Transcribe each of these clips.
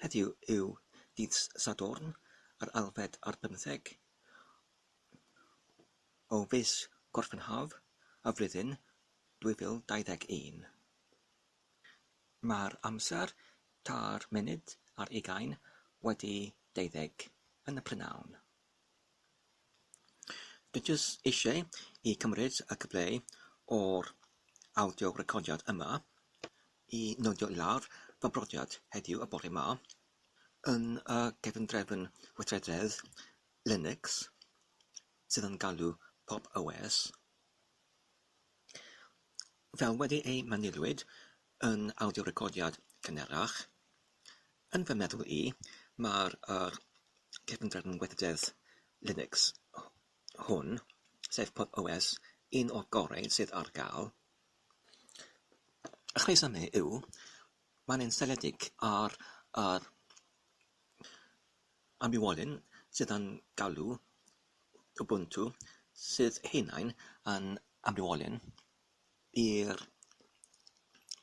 Heddiw yw dydd Sadwrn yr ailfed ar bymtheg o fis Gorffennaf y flwyddyn 2021. Mae'r amser tair munud ar ugain wedi deuddeg yn y prynhawn. Dwi jyst eisiau i cymryd y cyfle o'r awdio recordiad yma i nodio i lawr fy mhrofiad heddiw y bore 'ma yn y cefndrefn weithrededd Linux sydd yn galw pop OS. Fel wedi ei manyliwyd Yn awdio-recordiad cynharach, yn fy meddwl i, mae'r yr cefndir yn weithrededd Linux hwn, sef pop OS, un o'r gorau sydd ar gael. Y rhesymau yw, mae'n un seiliedig ar yr ambiwolyn sydd yn galw Ubuntu, sydd ei hunain yn ambiwolyn. i'r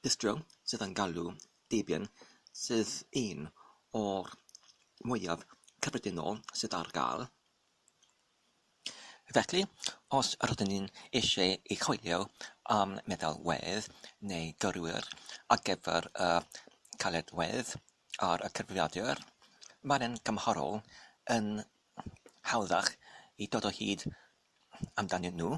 bistro sydd yn galw Debian sydd un o'r mwyaf cyffredinol sydd ar gael. Felly, os rydyn ni'n eisiau ei choelio am meddalwedd neu gyrwyr ar gyfer y caledwedd ar y cyfrifiadur, mae'n yn gymharol yn hawddach i dod o hyd amdanyn nhw.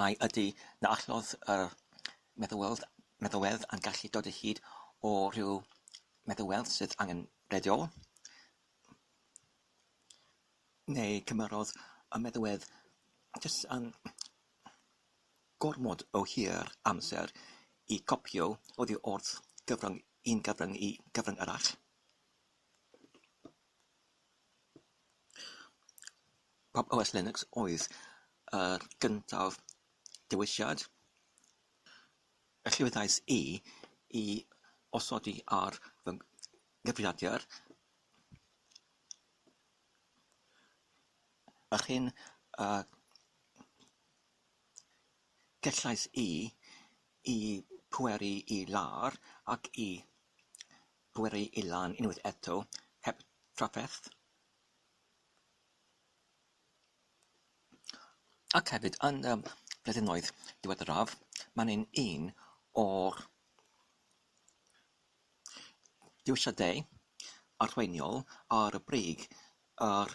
Ai ydy na allodd yr meddalwedd meddalwedd a'n gallu dod o hyd o ryw feddalwedd sydd angenrheidiol? Neu cymerodd y meddalwedd jyst yn gormod o hir amser i gopïo oddi wrth gyfrwng un cyfrwng i gyfrwng arall? Pop OS Linux oedd yr gyntaf dewisiad y llwyddiais i i osodi ar fy nghyfrifiadur yr hyn y gellais i i pweru i lawr ac i Bwri i lan unwaith eto, heb drafferth. Ac hefyd, yn y blynyddoedd diweddaraf, mae'n hyn un o'r dewisiadau arweiniol ar y brig ar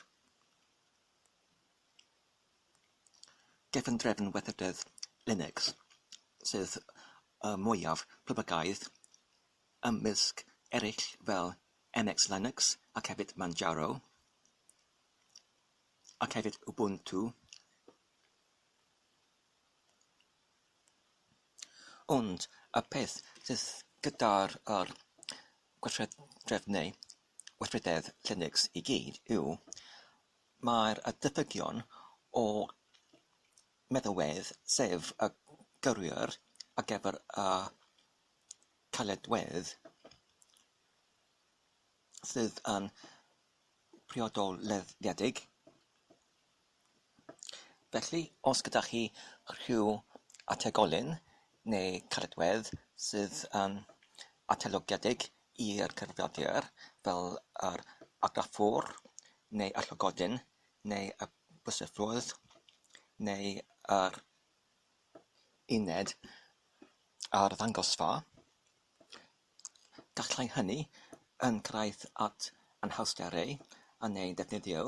gefndrefn weithrededd Linux, sef y mwyaf poblogaidd ymysg eraill fel NX Linux ac hefyd Manjaro ac hefyd Ubuntu ond y peth sydd gyda'r yr gweithredredd neu weithrededd Linux i gyd yw mae'r y diffygion o meddalwedd sef y gyrwyr ar gyfer y caledwedd sydd yn priodol leddfedig. Felly, os gyda chi rhyw ategolyn neu caledwedd sydd yn atelogedig i'r cyfrifiadur fel yr argraffwr neu y llygodyn neu y byswffwrdd neu yr uned arddangosfa, gallai hynny yn cyrraedd at anhawsterau yn ei ddefnyddio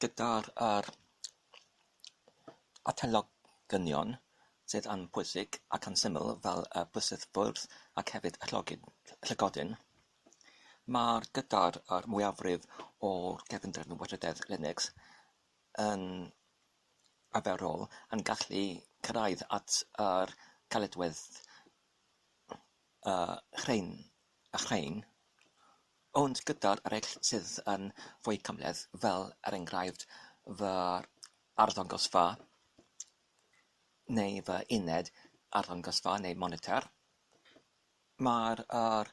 gydag yr atalgylchion sydd yn bwysig ac yn syml fel y bysedd bwrdd ac hefyd y llygoden. Mae'r gydair a'r mwyafrif o'r gefnder yn weithredeg Linux yn arferol yn gallu cyrraedd at yr caledwedd rhain, ond gyda'r eraill sydd yn fwy cymhleth, fel er enghraifft fy arddangosfa neu fy uned arddangosfa neu monitor, Mae'r yr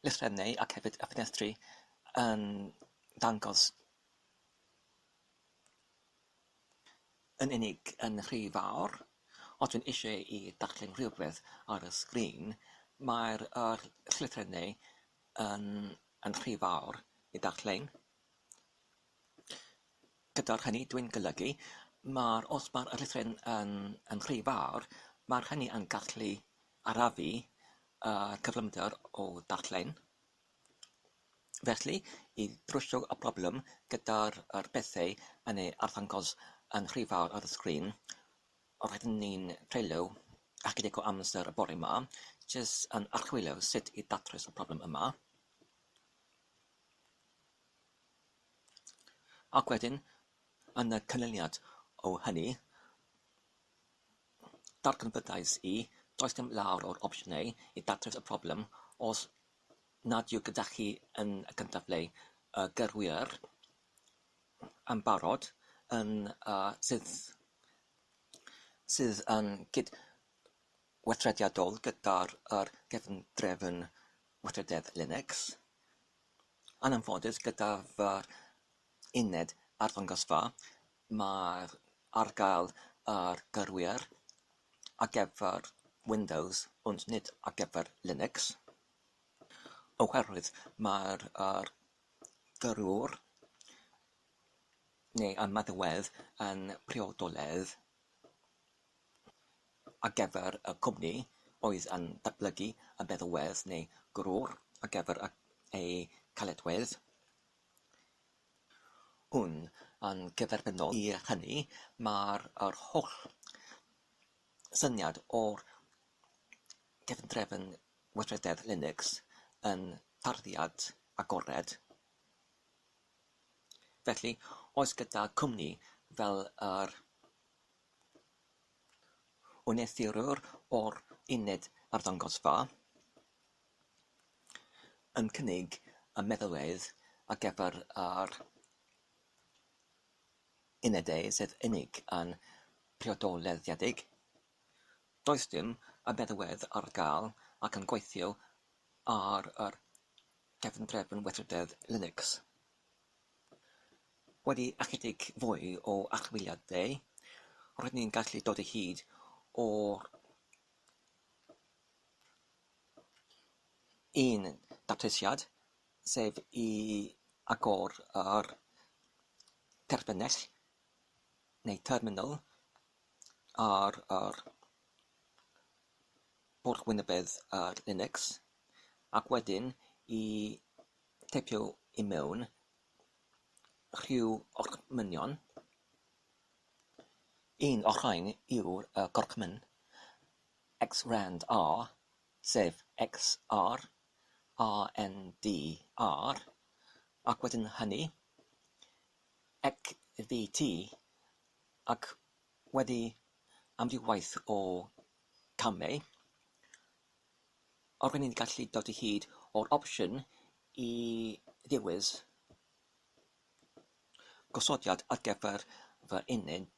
llythrennau ac hefyd y ffenestri yn dangos yn unig yn rhy fawr. Os dwi'n eisiau i darllen rhywbeth ar y sgrin mae'r yr llythrennau yn yn rhy fawr i darllen. Gyda'r hynny dwi'n golygu mae'r os mae'r llythrennau yn yn rhy fawr mae'r hynny yn gallu arafu y cyflymder o ddarllen, felly, i drwsio y problem gyda'r pethau yn eu arddangos yn rhy fawr ar y sgrin, roeddwn i'n treulio ychydig o amser y bore 'ma jyst yn archwilio sut i ddatrys y problem yma, ac wedyn, yn y canlyniad o hynny, Darganfyddais i, does dim llawer o'r opsiynau i ddatrys y problem os nad yw gyda chi yn y cyntaf ble y gyrwyr yn barod yn y sydd sydd yn gydweithrediadol gyda'r yr cefndrefn weithrededd Linux. Yn anffodus gyda fy uned arddangosfa Mae ar gael ar gyrwyr ar gyfer Windows ond nid ar gyfer Linux, oherwydd mae'r yr gyrrwr neu ymadawedd yn priodoledd ar gyfer y cwmni oedd yn datblygu y meddalwedd neu gyrrwr ar gyfer ei caledwedd. Yn gyferbyniol i hynny, mae'r holl syniad o'r cefndrefn weithrededd Linux yn tarddiad agored. Felly, oes gyda cwmni fel yr wneuthurwr o'r uned arddangosfa? yn cynnig y meddalwedd ar gyfer yr unedau sydd unig yn priodoliadedig. Does dim y meddalwedd ar gael ac yn gweithio ar yr cefndrefn weithrededd Linux. Wedi ychydig fwy o archwiliadau, roeddwn i'n gallu dod o hyd i'r un datrysiad, sef i agor yr terfynell neu terminal ar yr pwrdd Winabed ar Linux, ac wedyn i teipio i mewn rhyw orchmynion, un o'r rhain yw'r yy gorchmyn. XRANDR, sef XR, ANDR, ac wedyn hynny, XVT, ac wedi amrywiaeth o gamau, ro'n i'n gallu dod o hyd o'r opsiwn i ddewis gosodiad ar gyfer fy uned.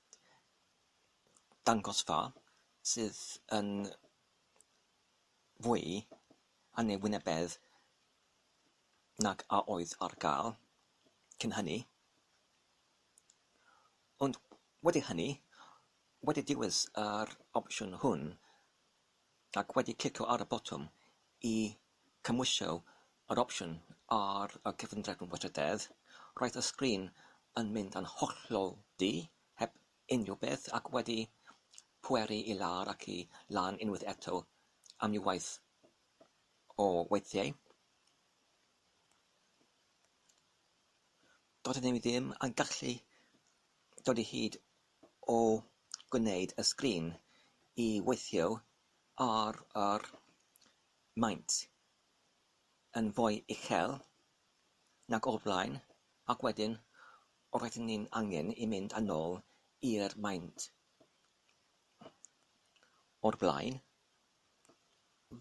dangosfa sydd yn fwy anniwynebedd nag a oedd ar gael cyn hynny, ond wedi hynny, wedi dewis yr opsiwn hwn ac wedi clicio ar y botwm i cymhwysio yr opsiwn ar y cyfundrefn weithrededd, roedd y sgrin yn mynd yn hollol du, heb Unrhyw beth ac wedi pweru i lawr ac i lan unwaith eto am ryw waith o weithiau. Doeddwn i ddim yn gallu dod i hyd o gwneud y sgrin i weithio ar yr maint yn fwy uchel nag o'r blaen ac wedyn Roedden ni'n angen i mynd â nôl i'r maint o'r blaen.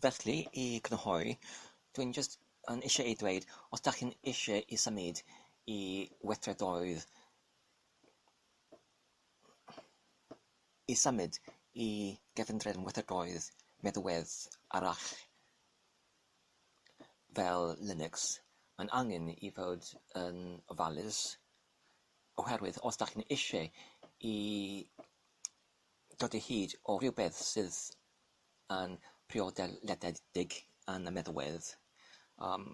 Felly, i grynhoi, dwi'n jyst yn isie i dweud, os dach chi'n isie i symud i weithredoedd, i symud i gefndrefn weithredoedd meddwedd arall, fel Linux, mae'n angen i fod yn ofalus, oherwydd os dach chi'n eisiau i dod o hyd o rywbeth sydd yn priodoliadedig yn y meddalwedd, yym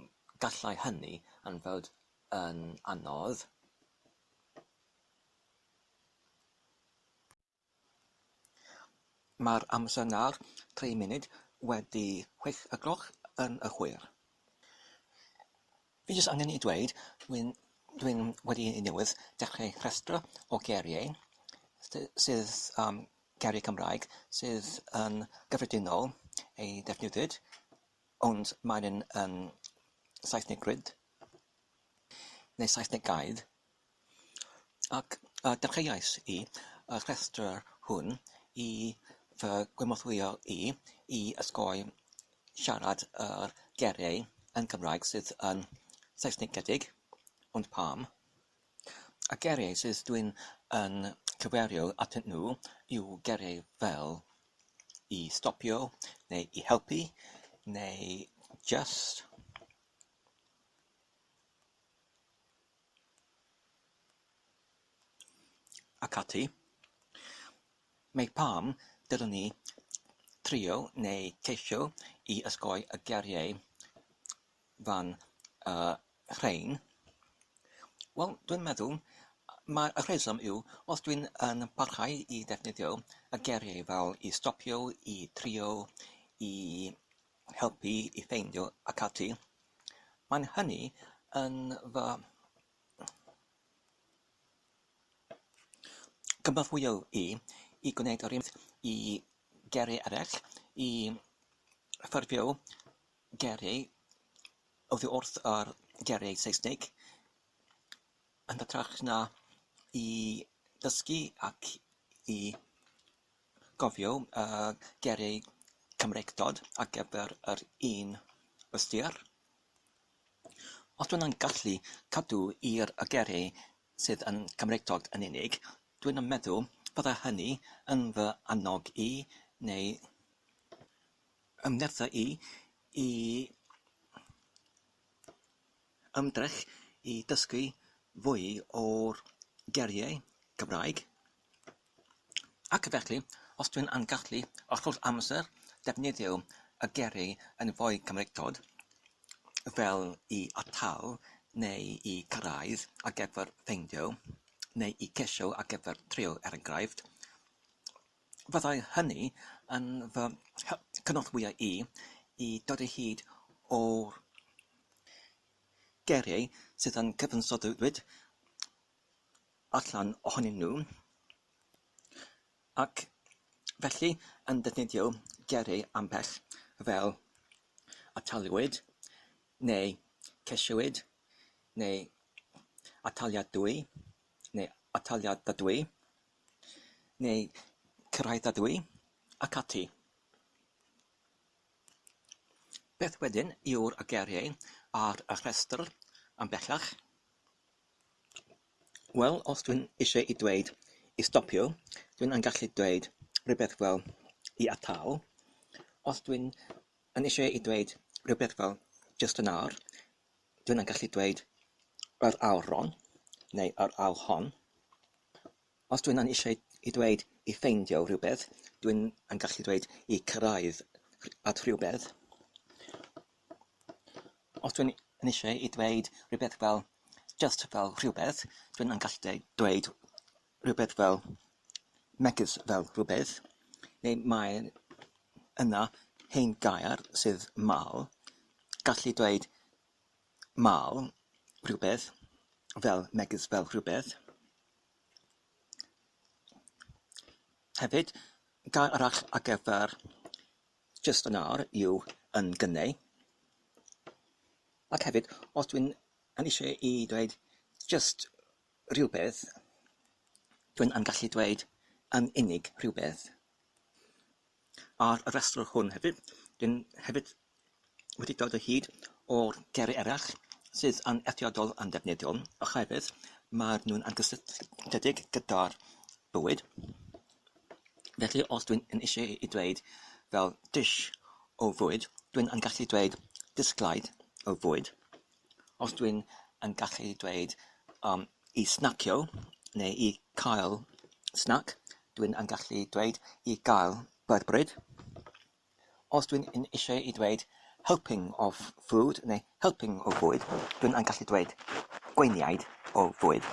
gallai hynny yn fod yn anodd. Mae'r amser nawr, tri munud wedi chwech y gloch yn y chwir. Fi jyst angen i dweud, dwi'n dwi'n wedi i newydd dechrau rhestr o geiriau sy- sydd yym geiriau Cymraeg sydd yn gyffredinol ei defnyddiwyd ond maen yn Saesneg gryt neu Saesneg gair. Ac a dechreuais i y rhestr hwn i fy gynorthwyo i i osgoi siarad yr geiriau yn Gymraeg sydd yn Saesnigedig, ond pam? Y geiriau sydd dw i'n yn cyfeirio atyn nhw yw geiriau fel 'i stopio' neu 'i helpu' neu 'jyst'. ac ati, mae pam dylwn ni trio neu ceisio i osgoi y geiriau fan rhein? Wel, dwi'n meddwl mai y rheswm yw os dwi'n yn parhau i ddefnyddio y geiriau fel i stopio, i drio, i helpu i ffeindio ac ati, mae'n hynny yn fy nghynorthwyo i i gwneud yr un peth i gerrig eraill, i ffurfio gerrig oddi wrth yr gerrig Seisnig, yn hytrach na i ddysgu ac i Cofiwch y geiriau Cymreictod ar gyfer yr un ystyr. Os dw i'n gallu cadw i'r geiriau sydd yn Gymreictod yn unig, dw i'n meddwl byddai hynny yn fy annog i, neu fy nerthu i, i ymdrech i ddysgu fwy o'r geiriau Cymraeg. Ac felly, os dwi'n yn gallu hollol amser defnyddio y geiriau yn fwy Cymreictod, fel i atal neu i gyrraedd ar gyfer ffeindio neu i gesio ar gyfer trio er enghraifft, fyddai hynny yn fy cynorthwyo i i dod o hyd i'r geiriau sydd yn cyfansoddwyd allan ohonyn nhw ac felly yn defnyddio gyrru ambell fel ataliwyd neu ceisiwyd neu ataliadwy neu ataliadadwy neu cyrhaeddadwy ac ati. Beth wedyn yw'r geiriau ar y rhestr yn bellach? Wel, os dwi'n eisiau i dweud i stopio, dwi'n yn gallu dweud rhywbeth fel i atal. Os dwi'n yn eisiau i dweud rhywbeth fel jyst yn awr, dwi'n yn gallu dweud yr awron neu yr awrhon. Os dwi'n yn eisiau i dweud i ffeindio rhywbeth, dwi'n yn gallu dweud i cyrraedd at rhywbeth. Os dwi'n yn eisiau i ddweud rhywbeth fel jyst fel rhywbeth, dwi'n yn gallu deu- dweud rhywbeth fel megis fel rhywbeth, neu mae yna hen gair sydd 'mal', gallu dweud 'mal rhywbeth' fel megis fel rhywbeth. Hefyd, gair arall ar gyfer Jyst yn awr yw yn gynnau. Ac hefyd, os dwi'n yn eisiau i dweud jyst rhywbeth, dwi'n yn gallu dweud yn unig rhywbeth. Ar y rhestr hwn hefyd, dwi'n hefyd wedi dod o hyd o'r ger eraill sydd yn eithriadol anddefnyddiol oherwydd maen nhw'n anghysylltiedig gyda'r bwyd. Felly os dwi'n yn eisiau i dweud fel dish o fwyd, dwi'n yn gallu dweud disglaid o fwyd. Os dwi'n yn gallu dweud um, i snacio neu i cael snac, dwi'n yn gallu dweud i gael byrbryd. Os dwi yn eisiau i ddweud helping of food neu helping o fwyd, dwi'n yn gallu dweud gweiniaid o fwyd.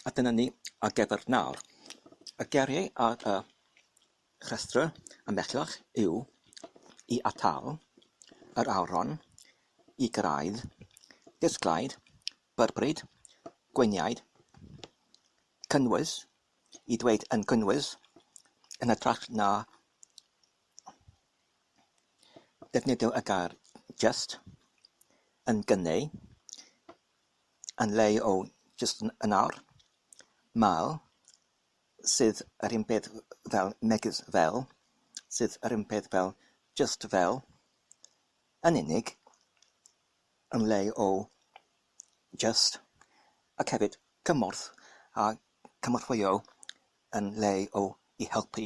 A dyna ni ar gyfer nawr. Y geiriau ar y rhestr yn bellach yw i atal, yr awron, i gyrraedd, disglaid, byrbryd, gweiniaid, cynnwys, i ddweud yn gynwys, yn hytrach na defnyddio y gair 'jyst', yn gynneu', yn lle o 'jyst yn awr', 'mal', 'sydd yr un peth fel', 'megis fel', 'sydd yr un peth fel', 'jyst fel', 'yn unig', yn lle o jyst, ac hefyd cymorth a chynorthwyo yn lle o i helpu.